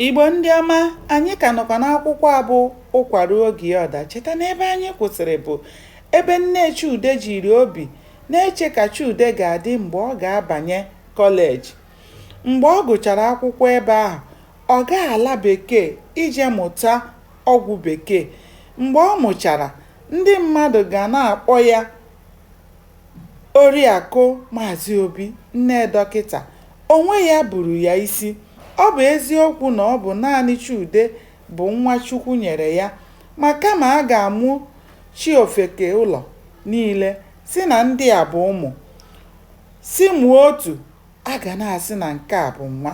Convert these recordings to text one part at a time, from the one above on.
Igbo ndị ọma, anyị ka nọkwa n'akwụkwọ a bụ Ụkwa Ruo Oge Ya Ọ Daa. Cheta na ebe anyị kwụsịrị bụ ebe nne Chude jiri obi na-eche ka Chude ga-adị mgbe ọ ga-abanye kọleji. Mgbe ọ gụchara akwụkwọ ebe ahụ, ọ gaa ala bekee ije mụta ọgwụ bekee. Mgbe ọ mụchara, ndị mmadụ ga na-akpọ ya Oriakụ Maazị Obi, nne dọkịta, onwe ya buru ya isi. Ọ bụ eziokwu na ọ bụ naanị Chude bụ nwa Chukwu nyere ya, ma kama a ga-amụchi ofeke ụlọ niile sị na ndị a bụ ụmụ, sị mụọ otu A ga na-asị na nke a bụ nwa.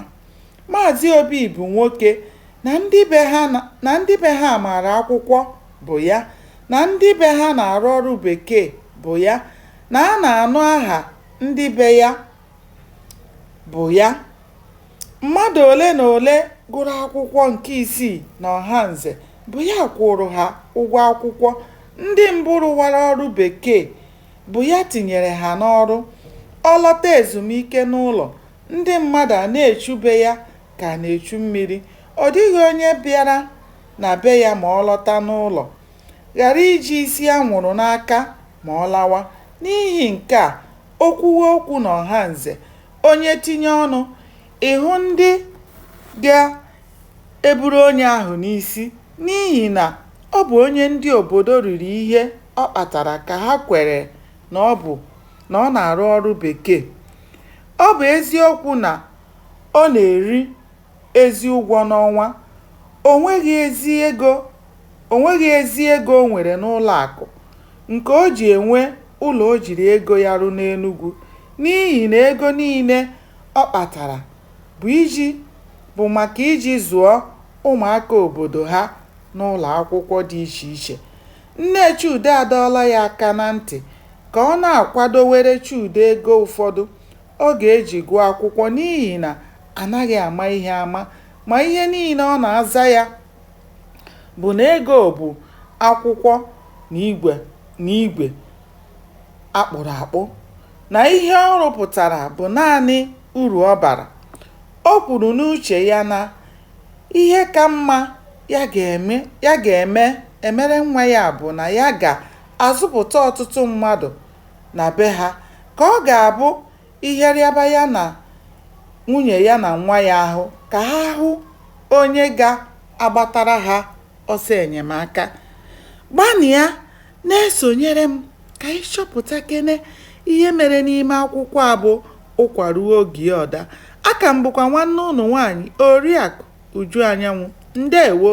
Maazị Obi bụ nwoke na ndị be ha maara akwụkwọ bụ ya na ndị be ha na-arụ ọrụ bekee bụ ya na a na-anụ aha ndị be ya bụ ya. Mmadụ ole na ole gụrụ akwụkwọ nke isii n'Ọhanze bụ ya kwụụrụ ha ụgwọ akwụkwọ. Ndị mbụ rụwara ọrụ bekee bụ ya tinyere ha n'ọrụ. Ọ lọta ezumike n'ụlọ, ndị mmadụ a na-echu be ya ka a na-echu mmiri. Ọ dịghị onye bịara na be ya ma ọ lọta n'ụlọ ghara iji isi anwụrụ n'aka ma ọ lawa. N'ihi nke a, o kwuwe okwu n'Ọhanze, onye tinye ọnụ, ị hụ ndị ga eburu onye ahụ n'isi n'ihi na ọ bụ onye ndị obodo riri ihe ọ kpatara ka ha kwere na ọ bụ na ọ na-arụ ọrụ bekee. Ọ bụ eziokwu na ọ na-eri ezi ụgwọ n'ọnwa, o nweghị ezi ego o nwere n'ụlọakụ nke o ji enwe ụlọ o jiri ego ya rụ n'Enugwu n'ihi na ego niile ọ kpatara bụ iji bụ maka iji zụọ ụmụaka obodo ha n'ụlọakwụkwọ dị iche iche. Nne Chude adọọla ya aka na ntị ka ọ na-akwadowere Chude ego ụfọdụ ọ ga-eji gụọ akwụkwọ n'ihi na a naghị ama ihe ama ma ihe niile ọ na-aza ya bụ na ego bụ akwụkwọ na igwe a kpụrụ akpụ, na ihe ọ rụpụtara bụ naanị uru ọ bara. O kwuru n'uche ya na ihe ka mma ya ga-emere nwa ya bụ na ya ga-azụpụta ọtụtụ mmadụ na be ha ka ọ ga-abụ ihe rịaba ya na nwunye ya na nwa ya ahụ ka ha hụ onye ga-agbatara ha ọsọ enyemaka. Gbanịa Na-esonyere m ka anyị chọpụtakene ihe mere n'ime akwụkwọ a bụ ụkwa ruo oge ọ daa. Aka m bụkwa nwanne ụnụ nwaanyị Oriakụ Uju Anyanwụ. Ndeewo!